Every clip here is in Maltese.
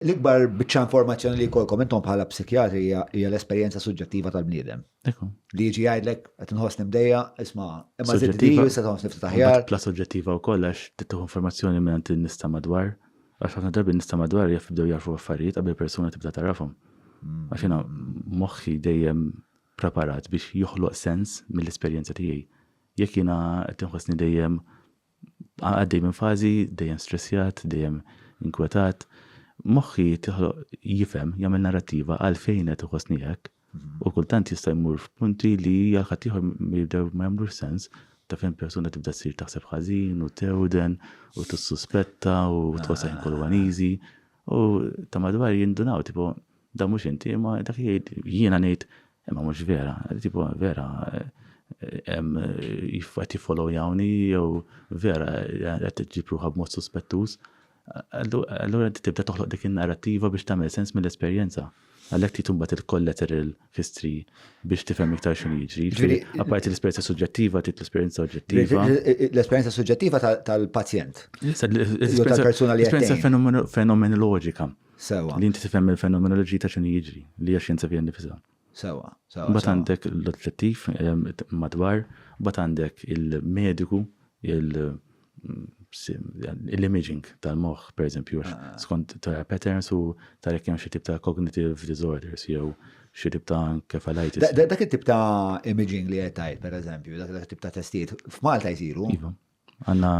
L-ikbar biċċa informazzjoni li jkollkom intom bħala psikjatri hija l-esperjenza suġġettiva tal-bniedem. Li jiġi jgħidlek qed inħossni mdejja, isma' imma suġġettiva se tħoss niftit aħjar. Bla suġġettiva wkoll għax tittuħu informazzjoni minn għand nista' madwar. Għax ħafna drabi nista' madwar jibdew jarfu affarijiet qabel persuna tibda tarafhom. Mm. Għax jiena moħħi dejjem preparat biex joħloq sens mill-esperjenza tiegħi. Jekk jiena qed inħossni dejjem Għaddej minn fażi, dejjem stressjat, dejjem inkwetat. Moħħi tiħloq jifhem, jagħmel narrattiva għalfejn qed iħossni hekk u kultant jista' jmur f'punti li għal ħaddieħor jibdew ma jagħmlux sens ta' fejn persuna tibda ssir taħseb ħażin u tewden u tissuspetta u tħossha ħin kollu uneasy u ta' madwar jindunaw tipo Da mhux inti, imma dak jgħid jiena ngħid, imma mhux vera, tipo vera qed jiffollowjawni jew vera qed tiġġib ruħha b'mod suspettuż. Allura inti tibda toħloq dik in-narrattiva biex tagħmel sens mill-esperjenza. Għalhekk trid imbagħad il-collateral history biex tifhem iktar x'inhu jiġri. Apparti l-esperjenza suġġettiva trid l-esperjenza oġġettiva. L-esperjenza suġġettiva tal-pazjent. L-esperjenza fenomenoloġika. Sewa. Li inti tifhem mill-fenomenoloġija ta' x'inhu jiġri, li hija xjenza fiha nnifisha. Sewa, sewa. Mbagħad għandek l-oġġettiv madwar, mbagħad għandek il-mediku, l-imaging tal-moħħ, pereżempju, għax skont tara patterns u tara jekk hemm xi tip ta' cognitive disorders jew xi tip ta' encephalitis. Dak it-tip ta' imaging li qed tgħid, pereżempju, dak it-tip ta' testijiet f'Malta jsiru? Iva. Għanna,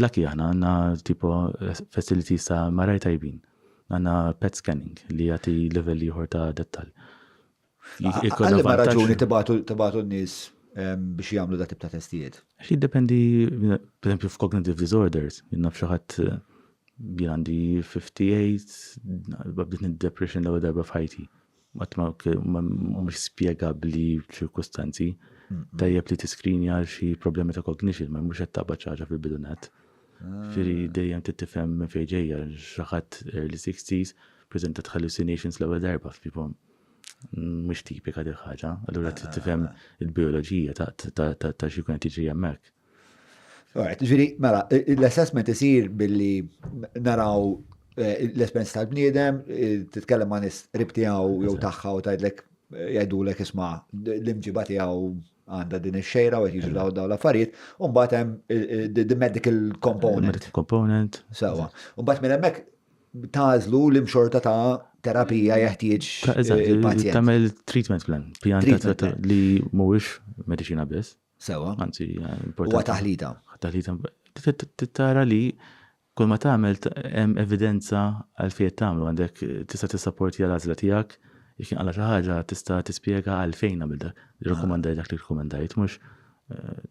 lucky aħna, għanna tipo facilities ta' maraj tajbin. Għanna pet scanning li jati level liħor ta' dettal. Għalli ma raġuni tibatu n-nis biex jamlu da' tip ta' testijiet? Xi dependi, per esempio, f'cognitive disorders, jinnaf xaħat għandi 58, b'din id-depression l-ewwel darba f'ħajti. Qatt ma mhumiex spjegabbli f'ċirkustanzi. Tajjeb li tiskrinja għal xi problemi ta' cognition, ma mhux qed taqbad xi ħaġa fil-bidu net. Ġifieri dejjem trid tifhem minn fejn ġejja xi ħadd early 60s preżentat hallucinations l-ewwel darba f'pipom. Mhux tipika dil ħaġa, allura trid tifhem il-bioloġija ta' xi jkun qed jiġri hemmhekk. Alright, ġiri, mela, l-assessment isir billi naraw eh, l-espens tal-bniedem, eh, titkellem ma' nis ribtijaw jew taħħa u tajdlek eh, jajdulek isma l-imġiba tijaw għanda din il-xejra u jiġu daw daw l-affarijiet, un batem the medical component. Medical component. Sawa. Un bat minn emmek tażlu l-imxorta ta' terapija jeħtieġ il-pazjent. Tamel treatment plan, pjan li mhuwiex medicina biss. Sewa. Anzi, importanti. Huwa taħlita. Taħlita tara li kull ma tagħmel hemm evidenza għal fejn tagħmlu għandek tista' tissapporti għal għażla tiegħek jekk inqala xi ħaġa tista' tispjega għal fejn għamil dak li rakkomandaj dak li rakkomandajt mhux eh,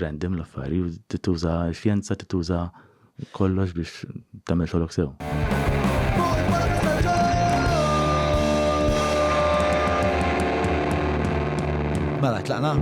random l-affari, tituża xjenza, tituża Kollox biex tagħmel xogħlok sew. Mela, tlaqna?